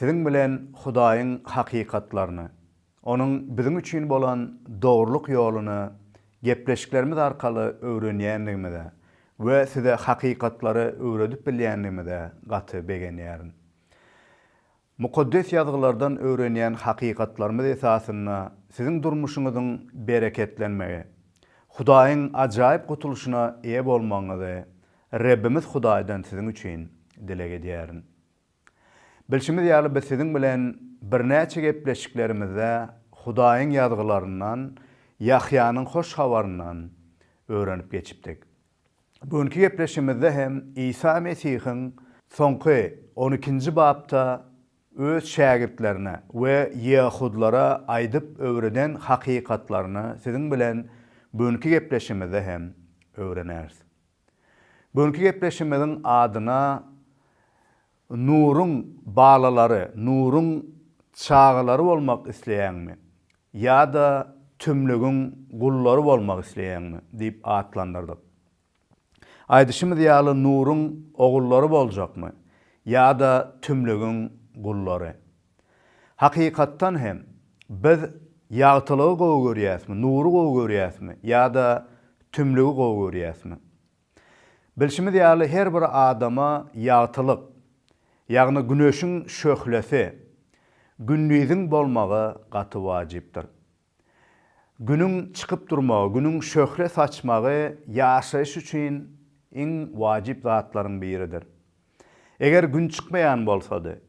Siziň bilen Hudaýyň hakykatlaryny, Onuň biziň üçin bolan dogrulyk ýoluny gepleşiklerimiz arkaly öwrenýändigimize we size hakykatlary öwredip bilýändigimize gaty begenýärin. Mukaddes Ýazgylardan öwrenýän hakykatlarymyz esasynda siziň durmuşyňyzyň bereketlenmegi, Hudaýyň ajaýyp gutulyşyna eýe bolmagyňyzy Rebbimiz Hudaýdan siziň üçin dileg edýärin. Bilşimiz ýaly, biz siziň bilen birnäçe gepleşiklerimizde Hudaýyň Ýazgylaryndan, Ýahýanyň Hoş Habaryndan öwrenip geçipdik. Bu günki gepleşigimizde hem Isa Mesihiň soňky on ikinji bapda Öz şägirtlerine we ýeahudlara aýdyp öwreden hakykatlaryny siziň bilen bu günki gepleşigimizde hem öwreneris. Bugünki gepleşimiziň adyna Nuryň balalary, Nuryň çagalary bolmak isleýäňmi? ýa-da Tümlügiň gullary bolmak isleýäňmi? diýip atlandyrdyk. Aýdyşymyz ýaly Nuryň ogullary boljakmy? ýa-da Tümlügiň gullary? Hakykatdan hem, biz ýagtylygy gowy görýäsmi, nury gowy görýäsmi ýa-da tümlügi gowy görýäsmi? Bilşimiz ýaly, her bir adama ýagtylyk, ýagny güneşiň şöhlesi, gündiziň bolmagy gaty wajypdyr. Günüň çykyp durmagy, günüň şöhle saçmagy ýaşaýyş üçin iň wajyp zatlaryň biridir. Eger gün çykmaýan bolsady,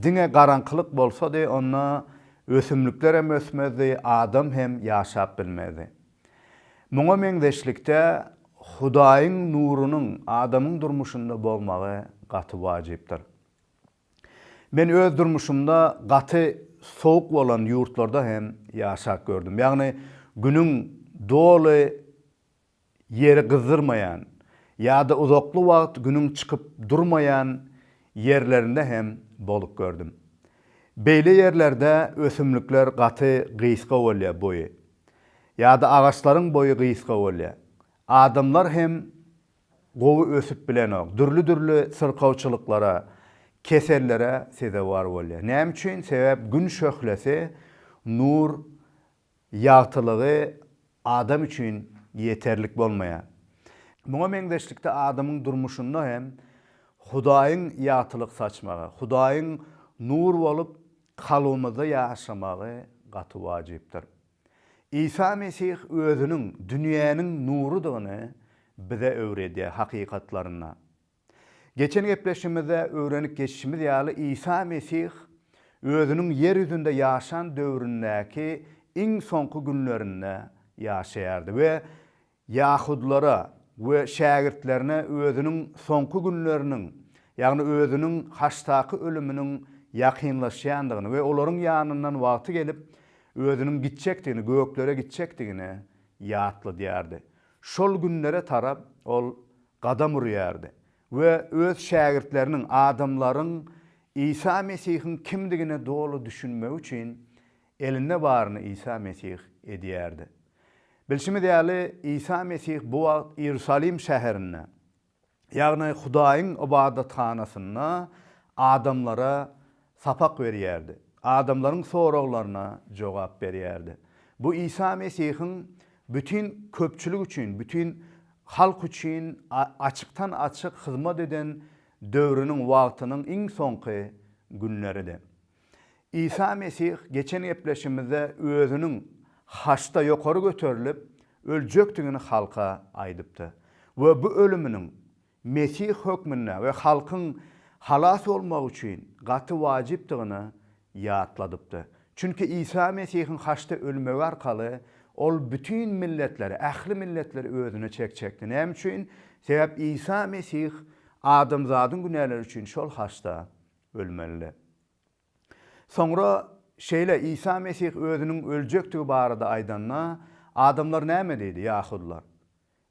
diňe garaňkylyk bolsady, onda ösümlikler hem ösmezdi, adam hem ýaşap bilmezdi. Muňa meňzeşlikde, Hudaýyň nurunyň adamyň durmuşynda bolmagy gaty wajypdyr. Men öz durmuşymda gaty sowuk bolan ýurtlarda hem ýaşap gördüm. Ýagny günüň doly ýeri gyzdyrmaýan ýa-da uzakly wagt günüň çykyp durmaýan ýerlerinde hem bolup gördüm. Beýle ýerlerde ösümlikler gaty gysga bolýar boýy. Ýa-da agaçlaryň boýy gysga bolýar. Adamlar hem gowy ösüp bilenok. Dürli-dürli syrkawçylyklara, kesellere sezewar bolýar. Näme üçin? Sebäp Gün şöhlesi, nur, ýagtylygy adam üçin ýeterlik bolmaýar. Muňa meňzeşlikde adamyň durmuşynda hem Hudaýyň ýagtylyk saçmagy, Hudaýyň nur bolup kalbymyzda ýaşamagy gaty wajypdyr. Isa Mesih Özüniň dünýäniň nurudygyny bize öwredýär, hakykatlarynda. Geçen gepleşigimizde öwrenip geçişimiz ýaly, Isa Mesih Özüniň ýer ýüzünde ýaşan döwründäki iň soňky günlerinde ýaşaýardy we ýahudylara we şägirtlerine özüniň soňky günleriniň, ýagny özüniň haçdaky ölüminiň ýakynlaşýandygyny we olaryň ýanyndan wagty gelip, özüniň gitjekdigini, göklere gitjekdigini ýatladýardy. Şol günlere tarap ol gadam urýardy we öz şägirtleriniň, adamlaryň Isa Mesihiň kimdigine doly düşünmegi üçin Elinde baryny Isa Mesih edýärdi. Bilşimiz ýaly, Isa Mesih bu wagt Iýerusalim şäherinde, ýagny Hudaýyň ybadathanasynda adamlara sapak berýärdi, adamlaryň soraglaryna jogap berýärdi. Bu Isa Mesihiň bütin köpçülik üçin, bütin halk üçin açykdan-açyk hyzmat eden döwrüniň wagtynyň iň soňky günleridi. Isa Mesih geçen gepleşigimizde özüniň haçda ýokary göterilip, öljekdigini halka aýdypdy we bu ölüminiň Mesih hökmünde we halkyň halas bolmagy üçin gaty wajypdygyny ýatladypdy. Çünki Isa Mesihiň haçda ölmegi arkaly Ol bütin milletleri, ähli milletleri özüne çekjekdi. Näme üçin? Sebäp Isa Mesih adamzadyň günäleri üçin şol haçda Ölmeli. Soňra şeýle, Isa Mesih özüniň öljekdigi barada aýdanda, adamlar näme diýdi, ýahudylar?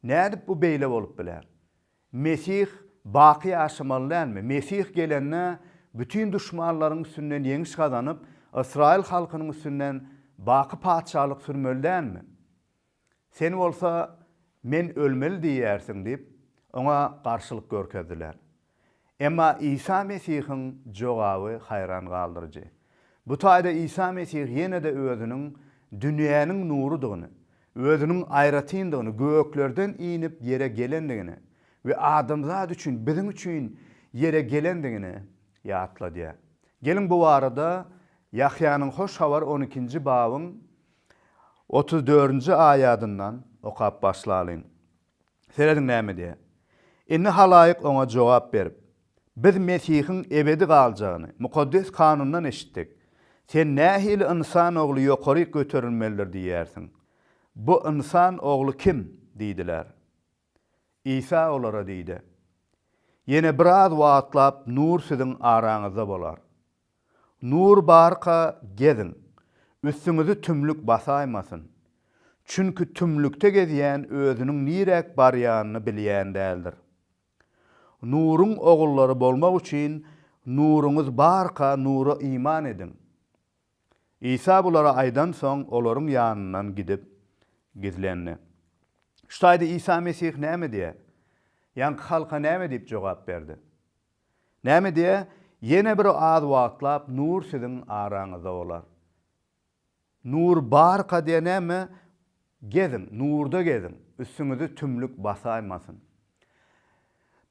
Nädip bu beýle bolup biler? Mesih baky ýaşamaly dälmi? Mesih gelende, bütin duşmanlaryň üstünden ýeňiş gazanyp, ysraýyl halkynyň üstünden baky patyşalyk sürmeli dälmi? Sen bolsa, Men ölmeli diýýärsiň diýip, oňa garşylyk görkezdiler. Emma Isa Mesihiň jogaby haýran galdyryjy. Bu taýda Isa Mesih ýene-de özüniň dünýäniň nurudygyny, özüniň aýratyndygyny, göklerden inip ýere gelendigini we adamzat üçin, biziň üçin ýere gelendigini ýatladýar. Geliň bu barada Ýahýanyň Hoş Habar on ikinji babyň Otuz dördünji aýadyndan okap başlalyň. Serediň näme diýýär. Indi halaýyk oňa jogap berip, Biz Mesihiň ebedi galjagyny Mukaddes Kanundan eşitdik. Sen nähili ynsan ogly ýokaryk göterilmelidir diýýärsiň? Bu ynsan ogly kim? diýdiler. Isa olara diýdi, Ýene biraz wagtlap nur siziň araňyzda bolar. Nur barka geziň, üstüňizi tümlük basaýmasyn. Çünki tümlükde gezýän özüniň niräk barýanyny bilýän däldir. Nuruň ogullary bolmak üçin nuruňyz barka nura iman ediň. Isa bulary aýdansoň, olaryň ýanyndan gidip, gizlendi. Şu taýda Isa Mesih näme diýýär? Ýaňky halka näme diýip jogap berdi? Näme diýýär? Ýene bir az wagtlap nur siziň araňyzda bolar. Nur barka diýenemi, Geziň, nurda geziň, üstüňizi tümlük basaýmasyn.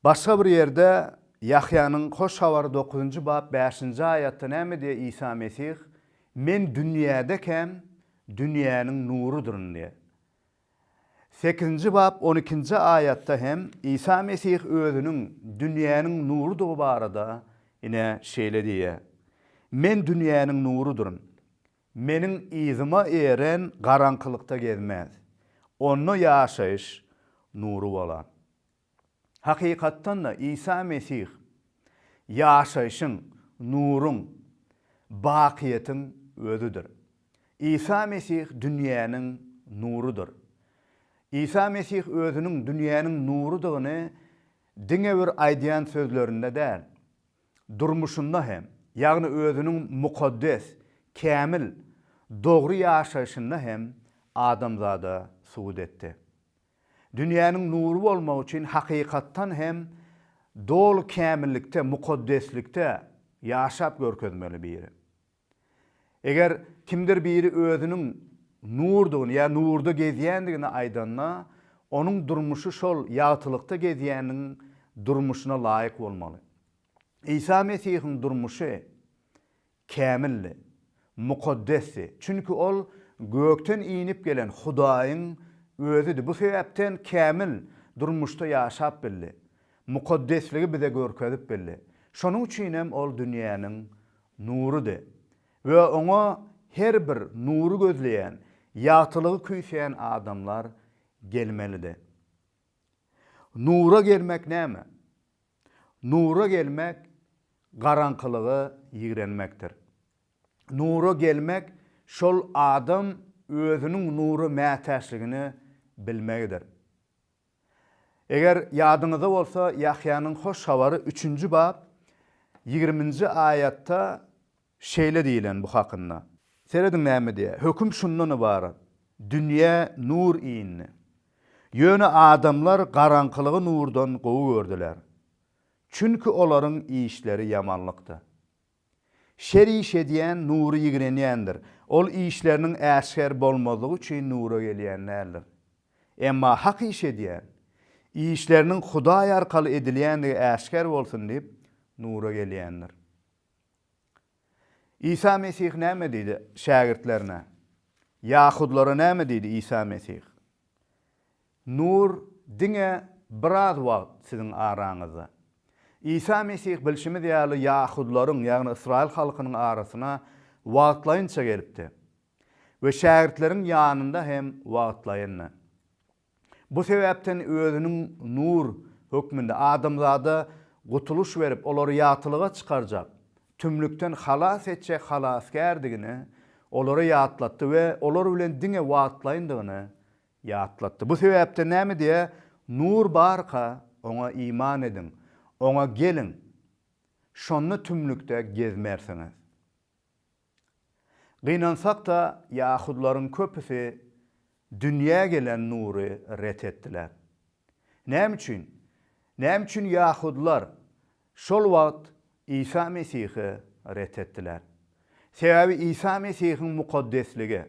Başga bir ýerde Ýahýanyň Hoş Habary dokuzynjy bap bäşinji aýatda näme diýýär Isa Mesih, Men dünýädekäm, dünýäniň nurudyryn diýýär. Sekizinji bap on ikinji aýatda hem Isa Mesih özüniň dünýäniň nurudygy barada ine şeýle diýýär, Men dünýäniň nurudyryn. Meniň yzyma eren garaňkylykda gezmez. Onda ýaşaýyş nury bolan. Hakykatdan-da, Isa Mesih ýaşaýşyň, nuruň, bakyýetiň Özüdir. Isa Mesih dünýäniň nurudyr. Isa Mesih Özüniň dünýäniň nurudygyny diňe bir aýdýan sözlerinde däl, durmuşynda hem, ýagny özüniň mukaddes, kämil, dogry ýaşaýşynda hem adamzada subut etdi. Dünýäniň nury bolmak üçin hakykatdan hem doly kämillikde, mukaddeslikde ýaşap görkezmeli biri. Eger kimdir biri özüniň nurdygyny ýa nurda gezýändigini aýdanda, onuň durmuşy şol ýagtylykda gezýäniň durmuşyna laýyk bolmaly. Isa Mesihiň durmuşy kämildi, mukaddesdi, çünki ol gökden inip gelen Hudaýyň Özüdi. Bu sebäpden kämil durmuşda ýaşap bildi, mukaddesligi bize görkezip bildi. Şonuň üçin hem ol dünýäniň Nurydy. We oňa her bir nury gözleýän, ýagtylygy küýseýän adamlar gelmelidi. Nura gelmek näme? Nura gelmek garaňkylygy ýigrenmekdir. Nura gelmek şol adam özüniň nura mätäçligini bilmegidir. Eger ýadyňyzda bolsa, Ýahýanyň Hoş Habary üçünji bap ýigriminji aýatda şeýle diýlen bu hakynda. Serediň näme diýýär. Höküm şundan ybarat, Dünýä nur indi. Ýöne adamlar garaňkylygy nurdan gowy gördüler. Çünki olaryň işleri ýamanlykdy. Şer iş edýän Nury ýigrenýändir. Ol işleriniň äşger bolmazlygy üçin Nura gelýän däldir. Emma hak iş edýän, işleriniň Hudaý arkaly edilýändigi äşger bolsun diýip, Nura gelýändir. Isa Mesih näme diýdi şägirtlerine? Ýahudylara näme diýdi Isa Mesih? Nur diňe biraz wagt siziň araňyzda. Isa Mesih bilşimiz ýaly ýahudylaryň, ýagny ysraýyl halkynyň arasyna wagtlaýynça gelipdi we şägirtleriň ýanynda hem wagtlaýyndy. Bu sebäpden özüniň nur hökmünde adamzada gutulyş berip, olary ýagtylyga çykarjak, tümlükden halas etjek Halasgärdigini olara ýatlatdy we olar bilen diňe wagtlaýyndygyny Ýatlatdy. Bu sebäpden näme diýýär? Nur barka, oňa iman ediň, oňa geliň, şonda tümlükde gezmersiňiz. Gynansak-da, ýahudlaryň köpüsi dünýä gelen nury ret etdiler. Näme üçin? Näme üçin ýahudylar Şol wagt Isa Mesihi ret etdiler. Sebäbi Isa Mesihiň mukaddesligi,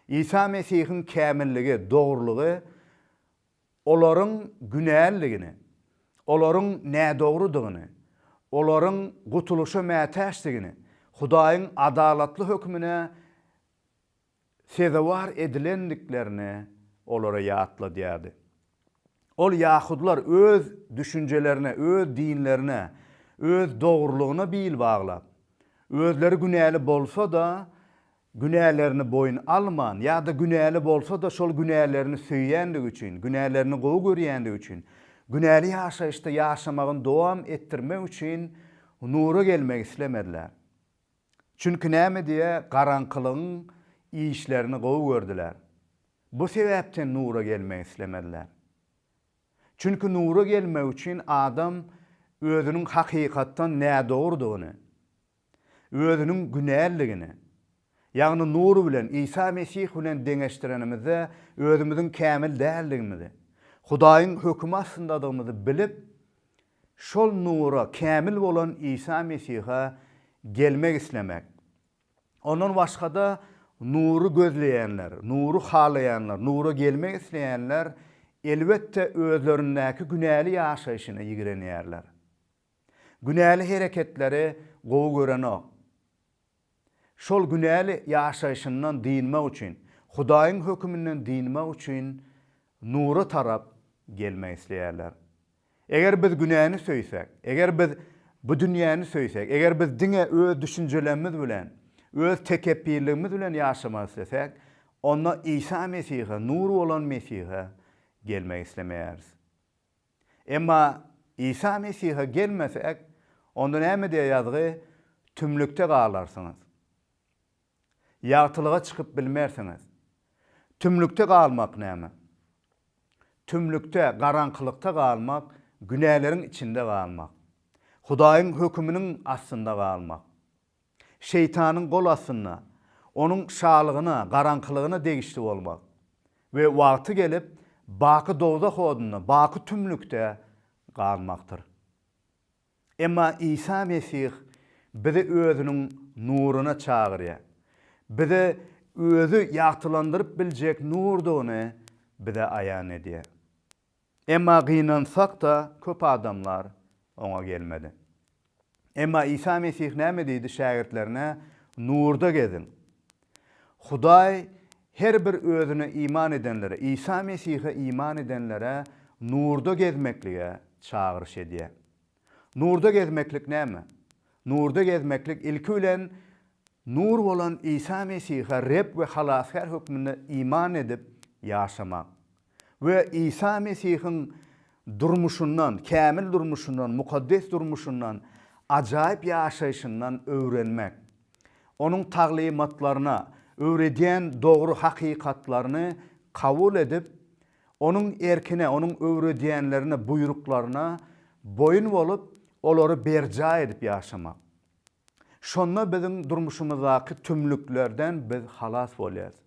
Isa Mesihiň kämilligi, dogrulygy olaryň günäliligini, olaryň nädogrudygyny, olaryň gutulyşa mätäçdigini, Hudaýyň adalatly hökmüne sezewar edilendiklerini olara ýatladýardy. Ol ýahudylar öz düşünjelerine, öz dinlerine, öz dogrulygyna bil baglap, özleri günäli bolsa-da, günälerini boýun alman ýa-da günäli bolsa-da şol günälerini söýýändigi üçin, günälerini gowy görýändigi üçin, günäli ýaşaýyşda ýaşamagyny dowam etdirmek üçin nura gelmek islemediler. Çünki näme diýe garaňkylygyň işlerini gowy gördüler. Bu sebäpden nura gelmek islemediler. Çünki nura gelmek üçin adam özüniň hakykatdan nädogrudygyny, özüniň günälligini, ýagny nur bilen, Isa Mesih bilen deňeşdirenimizde özümiziň kämil däldigimizi, Hudaýyň hökümi astyndadygymyzy bilip, Şol nura, kämil bolan Isa Mesihe gelmek islemek. Ondan başga-da nury gözleýänler, nury halaýanlar, nura gelmek isleýänler, elbetde, özlerindäki günäli ýaşaýşyna ýigrenýärler. Günäli hereketleri gowy görenok. Şol günäli ýaşaýşyndan dynmak üçin, Hudaýyň höküminden dynmak üçin nura tarap gelmek isleýärler. Eger biz günäni söýsek, eger biz bu dünýäni söýsek, eger biz diňe öz düşünjelerimiz bilen, öz tekepbirligimiz bilen ýaşamak islesäk, onda Isa Mesihe, nur bolan Mesihe gelmek islemeýäris. Emma Isa Mesihe gelmesek, onda näme diýýär ýazgy, Tümlükde galarsyňyz. Ýagtylyga çykyp bilmersiňiz. Tümlükde galmak näme? Tümlükde, garaňkylykda galmak, günäleriň içinde galmak. Hudaýyň höküminiň astynda galmak. Şeýtanyň gol astynda, onuň şalygyna, garaňkylygyna degişli bolmak we wagty gelip, baky dowzah odunda, baky tümlükde galmakdyr. Emma Isa Mesih bizi Özüniň nuryna çagyrýar. Bize Özi ýagtylandyryp biljek nurdygyny bize aýan edýär. Emma gynansak-da, köp adamlar Oňa gelmedi. Emma Isa Mesih näme diýdi şägirtlerine, Nurda geziň. Hudaý her bir Özüne iman edenlere, Isa Mesihe iman edenlere nurda gezmeklige çagyryş edýär. Nurda gezmeklik näme? Nurda gezmeklik, ilki bilen, Nur bolan Isa Mesihe Reb we Halasgär hökmünde iman edip ýaşamak. we Isa Mesihiň durmuşyndan, kämil durmuşyndan, mukaddes durmuşyndan, ajaýyp ýaşaýşyndan öwrenmek, Onuň taglymatlaryna, öwredýän dogry hakykatlaryny kabul edip, Onuň erkine, Onuň öwredýänlerine, buýruklaryna boýun bolup, olary berjaý edip ýaşamak. Şonda biziň durmuşymyzdaky tümlüklerden biz halas bolýarys.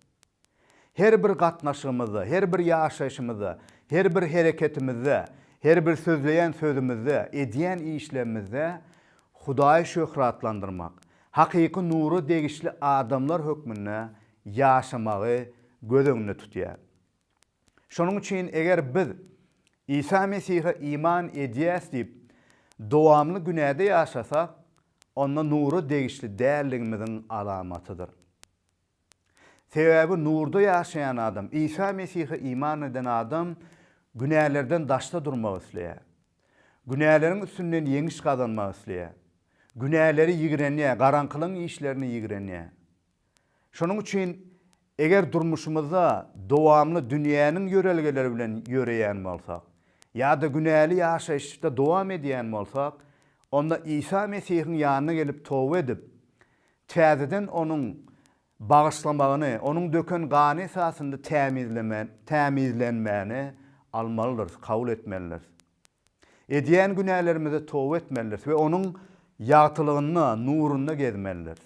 Her bir gatnaşygymyzda, her bir ýaşaýşymyzda, her bir hereketimizde, her bir sözleýän sözümizde, edýän işlerimizde Hudaýy şöhratlandyrmak, hakyky nura degişli adamlar hökmünde ýaşamagy göz öňünde tutýar. Şonuň üçin eger biz Isa Mesihe iman edýäs diýip, dowamly günäde ýaşasak, onda nura degişli däldigimiziň alamatydyr. Sebäbi nurda ýaşaýan adam, Isa Mesihe iman eden adam günälerden daşda durmak isleýär. Günäleriň üstünden ýeňiş gazanmak isleýär. Günäleri ýigrenýär, garaňkylygyň işlerini ýigrenýär. Şonuň üçin eger durmuşymyzda dowamly dünýäniň ýörelgeleri bilen ýöreýän bolsak, ýa-da günäli ýaşaýyşda dowam edýän bolsak, onda Isa Mesihiň ýanyna gelip toba edip, täzeden onuň bagyşlamagyny, onuň döken gany esasynda tämizleme, tämizlenmäni almalydyrys, kabul etmelidiris. Edýän günälerimize toba etmelidiris we onuň ýagtylygynda, nurunda gezmelidiris.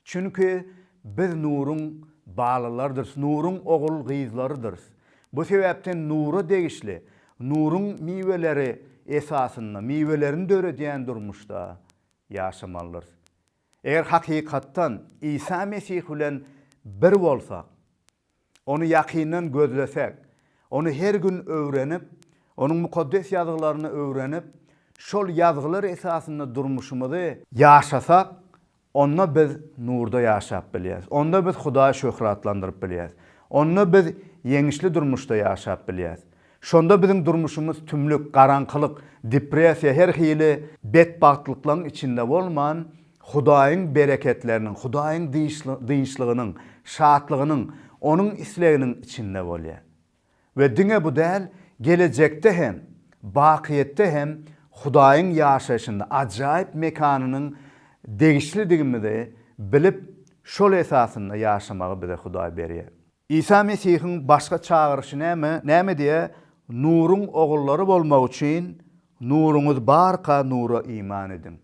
Çünki biz nuruň balylarydyrys, nuruň ogul-gyzlarydyrys. Bu sebäpden nura degişli, nuruň miweleri esasynda, miwelerini döredýän durmuşda ýaşamalydyrys. Eger hakykatdan Isa Mesih bilen bir bolsak, Ony ýakyndan gözlesek, Ony her gün öwrenip, Onuň Mukaddes Ýazgylaryny öwrenip, şol Ýazgylar esasynda durmuşymyzy. Ýaşasak, onda biz nurda ýaşap bilýäris. Onda biz Hudaýy şöhratlandyryp bilýäris. Onda biz ýeňişli durmuşda ýaşap bilýäris. Şonda biziň durmuşymyz tümlük, garaňkylyk, depressiýa her hili betbagtlyklaryň içinde bolman, Hudaýyň bereketleriniň, Hudaýyň dynçlygynyň, şatlygynyň, Onuň isleginiň içinde bolýar. We diňe bu däl, gelejekde hem, bakyýetde hem Hudaýyň ýaşaýşynda, ajaýyp mekanynyň degişlidigimizi bilip, şol esasynda ýaşamagy bize Hudaý berýär. Isa Mesihiň başga çagyryşy näme? Näme diýýär? Nuruň ogullary bolmak üçin nuruňyz barka nura iman ediň.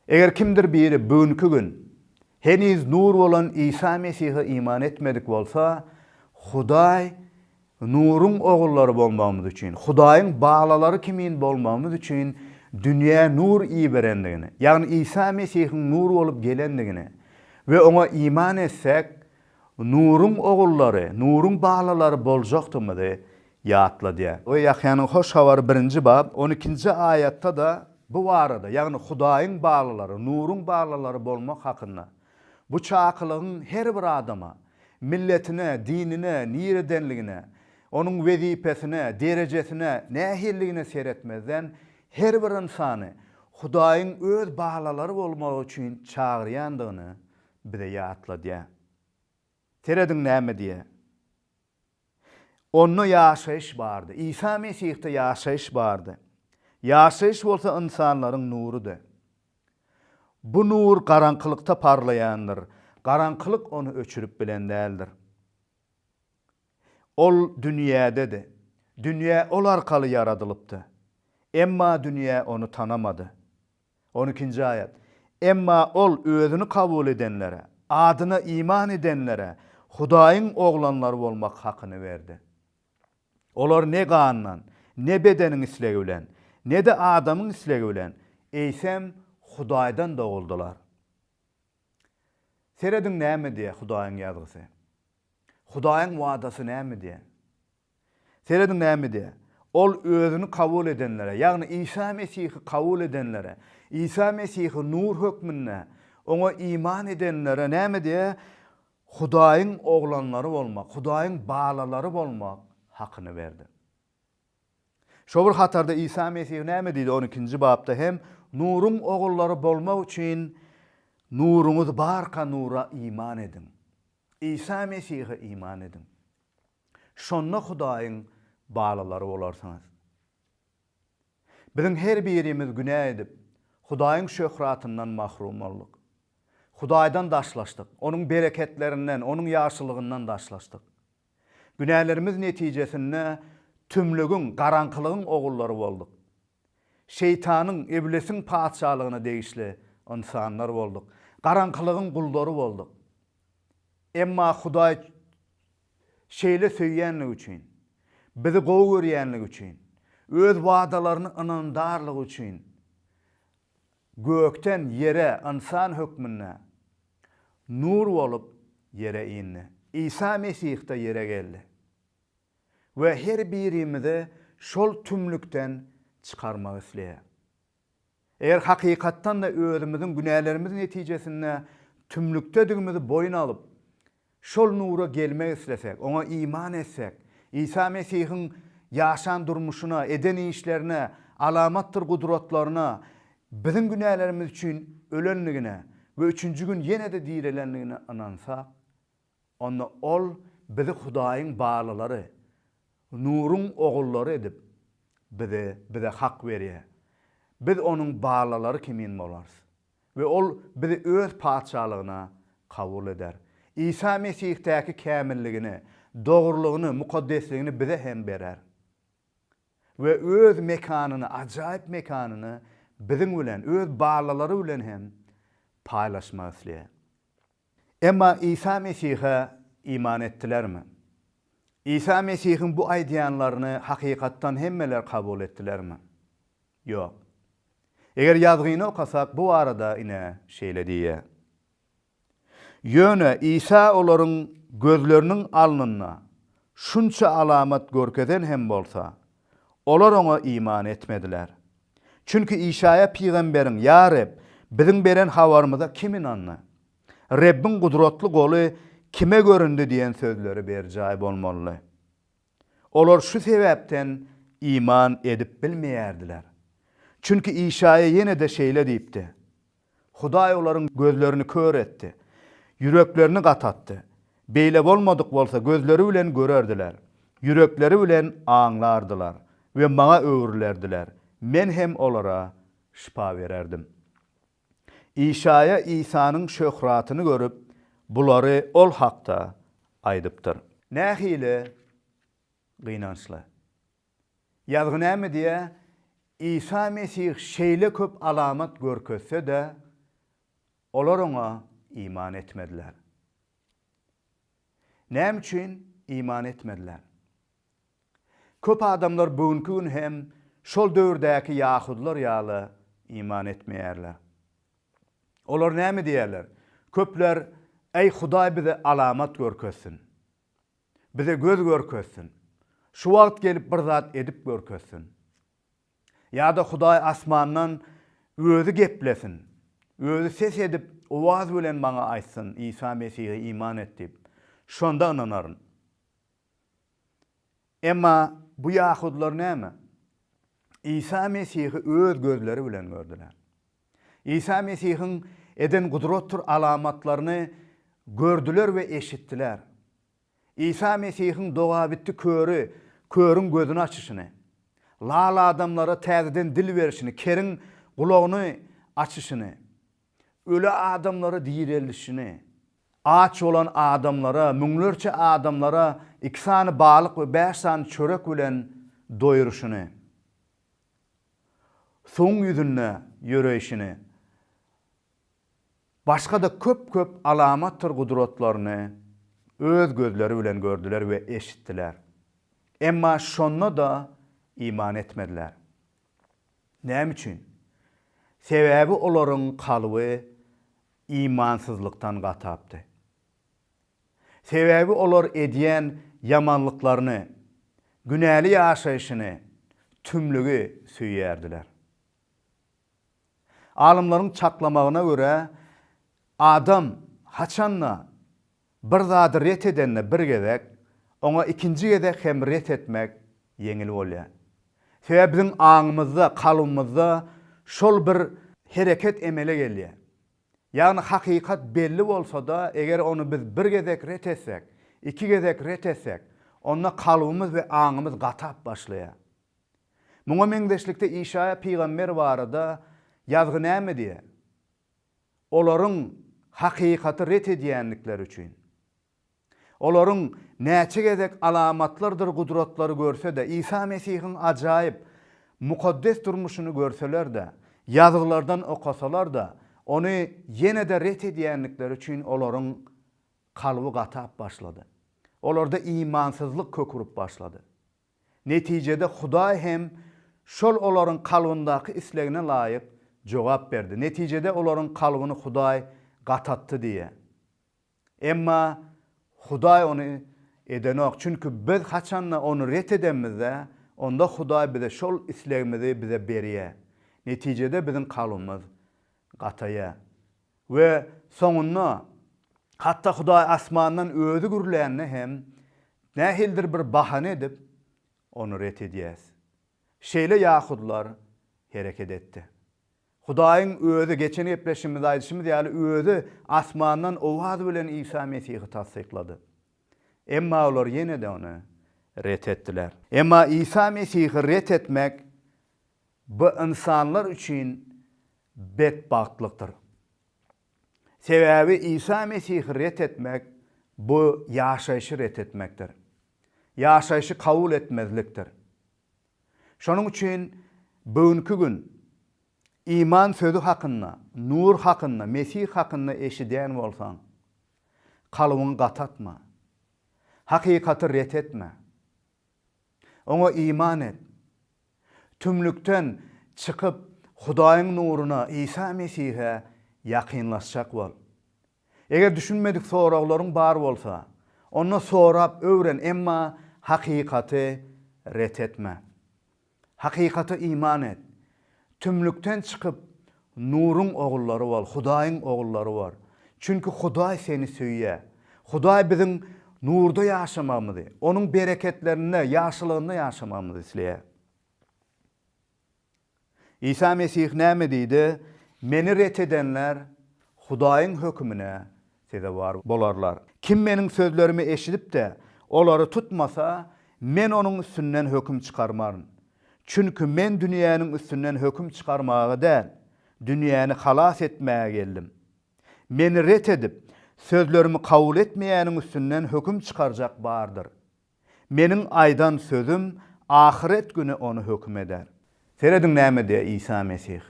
Eger kimdir biri bu günki gün heniz nur bolan Isa Mesihe iman etmedik bolsa, Hudaý nuruň ogullary bolmagymyz üçin, Hudaýyň balalary kimin bolmagymyz üçin dünýä nur iberendigini, ýagny Isa Mesihiň nur bolup gelendigini we oňa iman etsek, Nuryň ogullary, Nuryň balalary boljakdygymyzy ýatladýar. O Ýahýanyň Hoş Habary birinji bab, on ikinji aýatda-da bu barada, ýagny Hudaýyň balalary, Nuryň balalary bolmak hakynda, bu çakylygyň her bir adama, milletine, dinine, niredenligine, onuň wezipesine, derejesine, nähililigine seretmezden, her bir ynsany Hudaýyň öz balalary bolmagy üçin çagyrýandygyny bize ýatladýar. Serediň näme diýýär. Onda ýaşaýyş bardy. Isa Mesihde ýaşaýyş bardy. Ýaşaýyş bolsa ynsanlaryň nurudy. Bu nur garaňkylykda parlaýandyr, garaňkylyk ony öçürip bilen däldir. Ol dünýädedi. Dünýä ol arkaly ýaradylypdy. Emma dünýä ony tanamady. On ikinji aýat, Emma Ol Özüni kabul edenlere, Adyna iman edenlere Hudaýyň oglanlary bolmak hakyny berdi. Olar ne gandan, ne bedeniň islegi bilen, ne-de adamyň islegi bilen, eýsem, Hudaýdan doguldylar. Serediň näme diýýär Hudaýyň Ýazgysy. Hudaýyň wadasy näme diýýär? Serediň näme diýýär? Ol özüni kabul edenlere, ýagny Isa Mesihi kabul edenlere, Isa Mesihi nur hökmünde Oňa iman edenlere näme diýýär? Hudaýyň oglanlary bolmak, Hudaýyň balalary bolmak hakyny berdi. Şo bir hatarda Isa Mesih näme diýdi? On ikinji bapda hem, Nuruň ogullary bolmak üçin nuruňyz barka nura iman ediň. Isa Mesihe iman ediň. Şonda Hudaýyň balalary bolarsyňyz. Biziň her birimiz günä edip, Hudaýyň şöhratyndan mahrum bolduk. Hudaýdan daşlaşdyk, Onuň bereketlerinden, Onuň ýagşylygyndan daşlaşdyk. Günälerimiz netijesinde tümlügiň, garaňkylygyň ogullary bolduk. Şeýtanyň, Iblisiň patyşalygyna degişli ynsanlar bolduk. Garaňkylygyň gullary bolduk. Emma Hudaý Şeýle söýýänligi üçin, bizi gowy görýänligi üçin, öz wadalaryny ynandarlygy üçin gökden ýere ynsan hökmünde nur bolup ýere indi. Isa Mesihde ýere geldi we her birimizi şol tümlükden çykarmak isleýär. Eger hakykatdan-da özümiziň günälerimiz netijesinde tümlükdedigimizi boýun alyp, şol nura gelmek islesek, oňa iman etsek, Isa Mesihiň ýaşan durmuşyna, eden işlerine, alamatdyr gudratlaryna, biziň günälerimiz üçin ölendigine we üçünji gün ýene-de direlendigine ynansak, Onda Ol bizi Hudaýyň barlylary, nuruň ogullary edip, bizi Bize hak berýär. Biz Onuň barlylary kimin bolarys we Ol bizi Öz Patyşalygyna kabul eder. Isa Mesih'däki kämilligini, dogrulygyny, mukaddesligini bize hem berer we Öz mekanyny, ajaýyp mekanyny biziň bilen, Öz barlylary bilen hem paýlaşmak isleýär. Emma Isa Mesihe iman etdilermi? Isa Mesihiň bu aýdýanlaryny hakykatdan hemmeler kabul etdilermi? Ýok. Eger ýazgyny okasak, bu barada ine, şeýle diýýär. Ýöne Isa olaryň gözleriniň alnynda şunça alamat görkezen hem bolsa, Olar oňa iman etmediler. Çünki Işaýa pygamberiň, Ýa Reb, biziň beren habarymyza kim ynandy? Rebbiň gudratly goly kime göründi diýen sözleri berjaý bolmalydy. Olar şu sebäpden iman edip bilmeýärdiler. Çünki Işaýa ýene-de şeýle diýipdi. Hudaý olaryň gözlerini kör etdi, ýüreklerini gatatdy, beýle bolmadyk bolsa gözleri bilen görerdiler, ýürekleri bilen aňlardylar we Maňa öwrülerdiler, Men hem olara şypa bererdim. Işaýa Isanyň şöhratyny görüp, bulary Ol hakda aýdypdyr. Nähili gynançly! Ýazgy näme diýýär? Isa Mesih şeýle köp alamat görkezse-de, olar oňa iman etmediler. Näme üçin iman etmediler? Köp adamlar bu günki gün hem şol döwürdäki ýahudylar ýaly iman etmeýärler. Olar näme diýýärler? Köpler, Äý, Hudaý bize alamat görkezsin! Bize göz görkezsin. Şu wagt gelip bir zat edip görkezsin. Ýa-da Hudaý asmandan Özi geplesin. Özi ses edip, owaz bilen maňa aýtsyn, Isa Mesihe iman et diýip. Şonda ynanaryn. Emma bu ýahudylar näme? Isa Mesihi öz gözleri bilen gördüler. Isa Mesihiň eden gudratdyr alamatlaryny gördüler we eşitdiler. Isa Mesihiň dogabitdi köri körüň gözüni açyşyny, lal adamlara täzeden dil berişini, keriň gulagyny açyşyny, öli adamlary direldişini, aç bolan adamlara, müňlerçe adamlara iki sany balyk we bäş sany çörek bilen doýuryşyny, suwuň ýüzünde ýöreýşini, başga-da köp-köp alamatdyr gudratlaryny öz gözleri bilen gördüler we eşitdiler. Emma şonda-da iman etmediler. Näme üçin? Sebäbi olaryň kalby imansyzlykdan gatapdy. Sebäbi olar edýän ýamanlyklaryny, günäli ýaşaýşyny, tümlügi söýýärdiler. Alymlaryň çaklamagyna görä, adam haçan-da bir zady ret edende bir gezek, oňa ikinji gezek hem ret etmek ýeňil bolýar. Sebäbi biziň aňymyzda, kalbymyzda şol bir hereket emele gelýär. Ýagny hakykat belli bolsa-da, eger ony biz bir gezek ret etsek, iki gezek ret etsek, onda kalbymyz we aňymyz gatap başlaýar. Muňa meňzeşlikde Işaýa pygamber barada Ýazgy näme diýýär? Olaryň hakykaty ret edýändikleri üçin. Olaryň näçe gezek alamatlardyr gudratlary görse-de, Isa Mesihiň ajaýyp, mukaddes durmuşyny görseler-de, Ýazgylardan okasalar-da, Ony ýene-de ret edýändikleri üçin olaryň kalby gatap başlady. Olarda imansyzlyk kök urup başlady. Netijede Hudaý hem şol olaryň kalbyndaky islegine laýyk jogap berdi. Netijede olaryň kalbyny Hudaý gatatdy diýýär. Emma Hudaý ony edenok, çünki biz haçanda ony ret edemizde, onda Hudaý bize şol islegimizi bize berýär. Netijede biziň kalbymyz gataýar. We soňunda, hatda Hudaý asmandan özi gürlände hem, nähilidir bir bahana edip, ony ret edýäris. Şeýle ýahudylar hereket etdi. Hudaýyň Özi, geçen gepleşigimizde aýdyşymyz ýaly, Özi asmandan owaz bilen Isa Mesihi tassyklady. Emma olar ýene-de Ony ret etdiler. Emma Isa Mesihi ret etmek, bu ynsanlar üçin betbagtlykdyr. Sebäbi Isa Mesihi ret etmek, bu ýaşaýşy ret etmekdir. Ýaşaýşy kabul etmezlikdir. Şonuň üçin bugünki gün iman sözi hakynda, nur hakynda, Mesih hakynda eşidýän bolsaň, kalbyňy gatatma. Hakykaty ret etme. Oňa iman et. Tümlükden çykyp, Hudaýyň nuruna, Isa Mesihe ýakynlaşjak bol. Eger düşünmedik soraglaryň bar bolsa, onda sorap öwren emma hakykaty ret etme. Hakykata iman et. Tümlükden çykyp nuruň ogullary bol, Hudaýyň ogullary bor. Çünki Hudaý seni söýýär. Hudaý biziň nurda ýaşamagymyzy, onuň bereketlerinde, ýagşylygynda ýaşamagymyzy isleýär. Isa Mesih näme diýdi? Meni ret edenler Hudaýyň hökümine sezewar bolarlar. Kim meniň sözlerimi eşidip-de, olary tutmasa, Men onuň üstünden höküm çykarmaryn. Çünki Men dünýäniň üstünden höküm çykarmaga däl, dünýäni halas etmäge geldim. Meni ret edip, sözlerimi kabul etmeýäniň üstünden höküm çykarjak bardyr. Meniň aýdan sözüm ahyret güni ony höküm eder. Serediň näme diýýär Isa Mesih.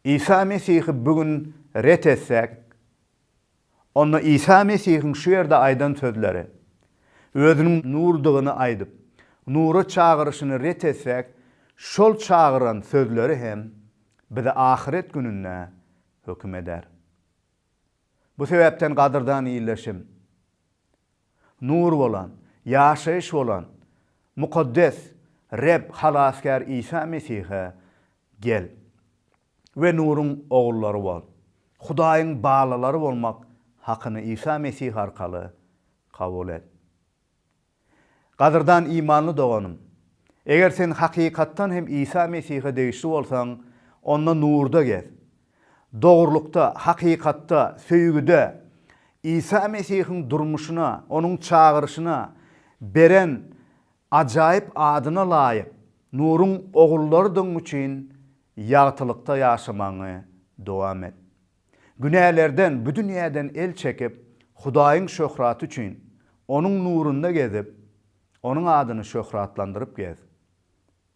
Isa Mesihi bu gün ret etsäk, onda Isa Mesihiň şu ýerde aýdan sözleri, Özüniň Nurdygyny aýdyp, nura çagyryşyny ret etsäk, şol çagyran sözleri hem bizi ahyret gününde höküm eder. Bu sebäpden gadyrdan ildeşim, Nur bolan, ýaşaýyş bolan Mukaddes Reb Halasgär Isa Mesihe gel we nuruň ogullary bol. Hudaýyň balalary bolmak hakyny Isa Mesih arkaly kabul et. Gadyrdan imanly doganym, eger sen hakykatdan hem Isa Mesihe degişli bolsaň, onda nurda gez Dogrulykda, hakykatda, söýgüde Isa Mesihiň durmuşyna, Onuň çagyryşyna, beren ajaýyp adyna laýyk nuruň ogullarydygyň üçin ýagtylykda ýaşamagyňy dowam et. Günälerden, bu dünýäden el çekip, Hudaýyň şöhraty üçin, Onuň nurunda gezip, Onuň adyny şöhratlandyryp gez.